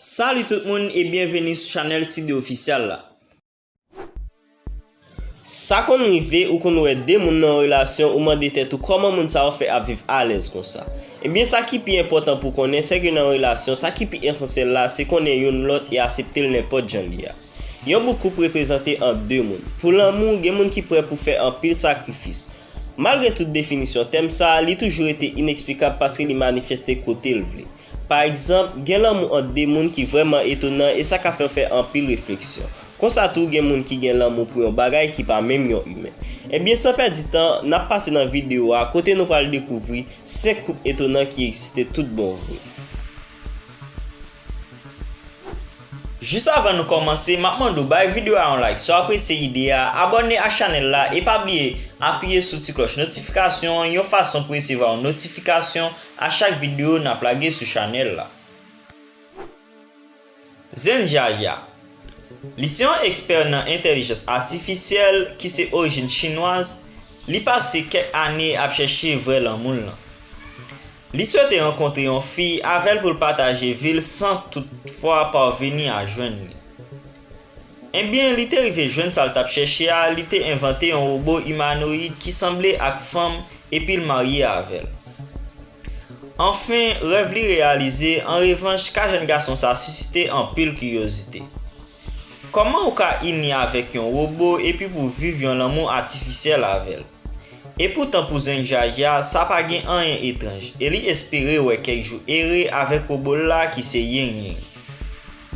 Salut tout moun e byenveni sou chanèl Sidde Official la. Sa konn rive ou konn wè 2 moun nan yon relasyon ou mande tèt ou kòman moun sa yo fè ap viv alèz konsa. Ebyen sa ki pi enpòtan pou konnen sèke nan yon relasyon sa ki pi esansyèl la se konnen youn lòt e aseptel nenpòt jan li a. Yon bouk koup reprezante ant de moun. Pou lanmou, gen moun ki prè pou fè anpil sakrifis. Malgre tout definisyon tèm sa a, li toujou rete ineksplikab paske li manifeste kote l vle. Pa egzanp, gen lanmou ant de moun ki vrèman etonan e sa ka fè w fè anpil refleksyon. Konsa tou, gen moun ki gen lanmou pou yon bagay ki pa menm yon imen. Ebyen, san pèdi tan, n ap pase nan videyo a kote nou pral dekouvri 5 koup etonan ki egziste tout bon vre. Jis avan nou kòmanse map mande w bay video a yon like si w apresye ide a, abòne ak chanèl la e pa bliye apiye sou ti klòch notifikasyon an yon fason pou resevwa yon notifikasyon a chak video nap lage sou chanèl la. Zen Jaja Li se yon ekspè nan entèlijans atifisyèl ki se orijin chinwaz, li pase kèk ane ap chèche vrè lanmou l lan. Li swete rankontre yon fi avè l pou l pataje vi l san toutfwa pavini a jwenn li. Enbyen, li te rive jwenn sa l t ap chèche a, li te envante yon wobo imanoyid ki sanble ak fanm epi l marye avè l. Anfen, rèv li reyalize, an revanch, ka jèn gason sa a sisite anpil kiryozite. Kòman ou ka ini avèk yon wobo epi pou viv yon lanmou atifisyèl avè l? E poutan pou zen Jaja a sa pa gen anyen etranj e li espere wè kèk jou ere avèk wobo l la ki se Ying Ying.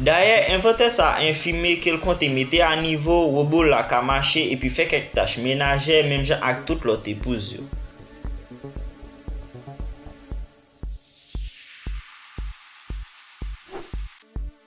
Dayè envantè sa enfime ke l konte mete a nivo wobo l la ka mache epi fè kèk tach menajè menm jan ak tout lòt epouz yo.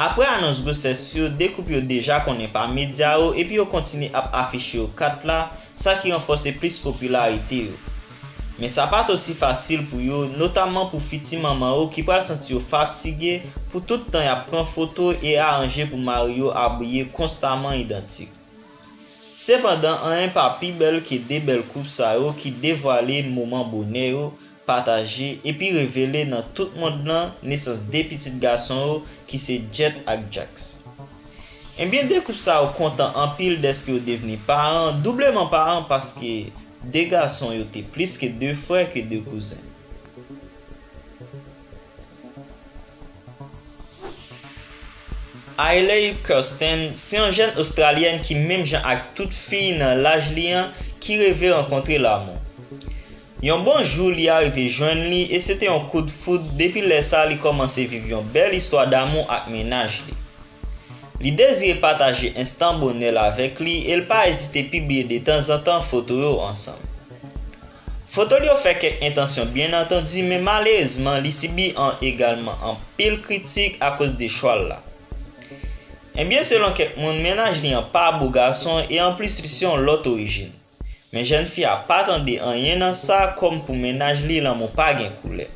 Aprè anons gwosès yo, 2 koup yo deja konnen pa medya yo epi yo kontinye ap afiche yo kat la, sa ki ranfòse plis popilarite yo. Men sa pa t osi fasil pou yo, notamman pou fiti manman yo ki pral santi yo fatige pou tout tan y ap pran foto e aranje pou mari yo abiye konstaman idantik. Sepandan, anyen pa pi bèl ke 2 bèl koup sa yo ki devwale moman bonè yo pataje, epi revele nan tout mond lan nesans 2 pitit gason yo ki se Jet ak Jax. Ebyen 2 koup sa yo kontan anpil dèske yo devni paran, doubleman paran paske 2 gason yo te plis ke 2 frè ke 2 kouzen. Ailey Kirsten se yon jèn Ostralyèn ki menm jan ak tout fi nan laj li an ki reve rankontre lamou. Yon bon jou li arive jwenn li e se te yon kout foud depi lè sa li kòmanse viv yon bèl istwa damou ak mennaj li. Li dezire pataje enstan bonè l avèk li e l pa ezite pibliye detanzantan foto yo ansanm. Foto l yo fè kèk entansyon byen antandi men malerezman li sibi an egalman anpil kritik akoz de chwa l la. Ebyen selon kèk moun mennaj li an pa bo gason e anplis li se yon lòt orijin. Men jèn fi a pa tande anyen nan sa kòm pou mennaj li lanmou pa gen koulè.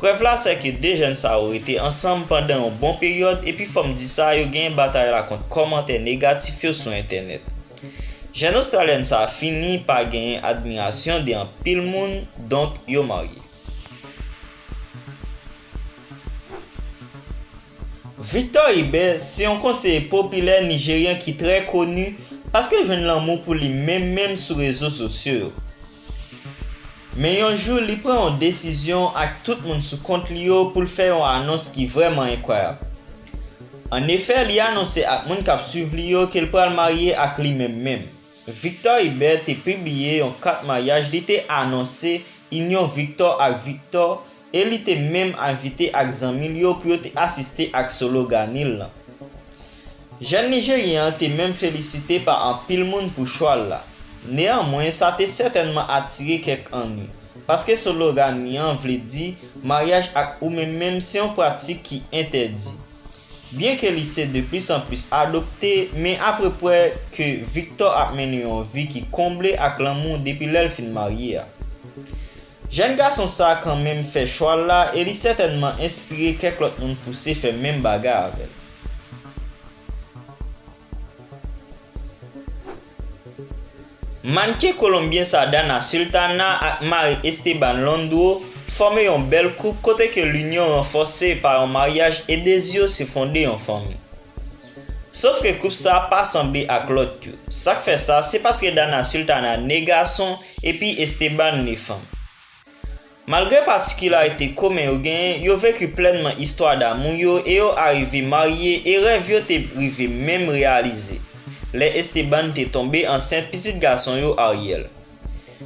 Prèv la sè ke 2 jèn sa yo rete ansanm pandan yon bon peryòd epi fòm di sa yo genyen batay la kont kòmantè negatif yo sou entènèt. Jèn ostralyèn sa fini pa genyen admirasyon de anpil moun donk yo marye. Victor Ibe se yon konseye popilè Nijeryen ki trè koni paske l jwenn lanmou pou li menm menm sou rezo sosyo yo. Men yon jou li pran yon desizyon ak tout moun sou kont li yo pou l fè yon anons ki vrèman enkwayab. An efè li anonse ak moun k ap swiv li yo ke l pral marye ak li menm menm. Victor Ibe te pibliye yon kat maryaj li te anonse inyon Victor ak Victor e li te menm envite ak zanmi l yo pou yo te asiste ak solo Ganil lan. Jèn Nijeryen an te menm felisite pa anpil moun pou chwa l la. Neyanmwen sa te sètènman atire kèk anni, paske solo Gani an vle di maryaj ak ou menm menm se yon pratik ki entèdi. Byenke li se de plis an plis adopte, men aprepwè ke Victor ap mennen yon vi ki konble ak lanmou depi lè l fin marye a. Jèn gason sa kanmenm fè chwa l la e li sètènman enspire kèk lòt moun pouse fè menm bagay avè l. Mannken kolonbyen sa Dana Sultana ak mari Esteban Londro fòme yon bèl koup kote ke linyon ranfòse pa yon maryaj e dezi yo se fonde yon fanmi. Sof ke koup sa pa sanble ak lòt yo. Sak fè sa se paske Dana Sultana ne gason epi Esteban ne fanm. Malgre patikilarite komen yo genyen, yo veki plènman istwa damou yo e yo arive marye e rèv yo te rive menm reyalize, lè Esteban te tonbe ansent pitit gason yo Ariel.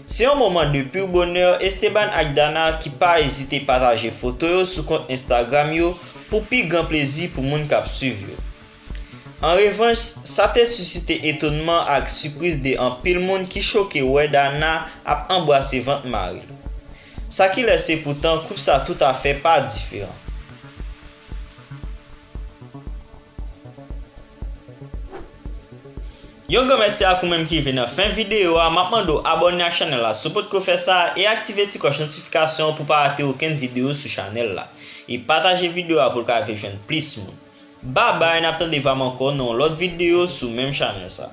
Se yon moman de pur bonheur, Esteban ak Dana ki pa ezite pataje foto yo sou kont Instagram yo pou pi gran plezi pou moun kap swiv yo. An revanch, sa te susite etonman ak sipriz de anpil moun ki choke wè Dana ap anbrase vant mari l. Sa ki lèse poutan koup sa toutafè pa diferan. Yon gran mèsi ak ou menm ki rive nan fen videyo a, map mande w abòne ak chanèl la si w potko fè sa e aktive ti klòch notifikasyon an pou w pa rate okenn videyo sou chanèl la. E pataje videyo a pou l ka rive jwenn plis moun. Babay nap tande vam ankò nan yon lòt videyo sou menm chanèl sa.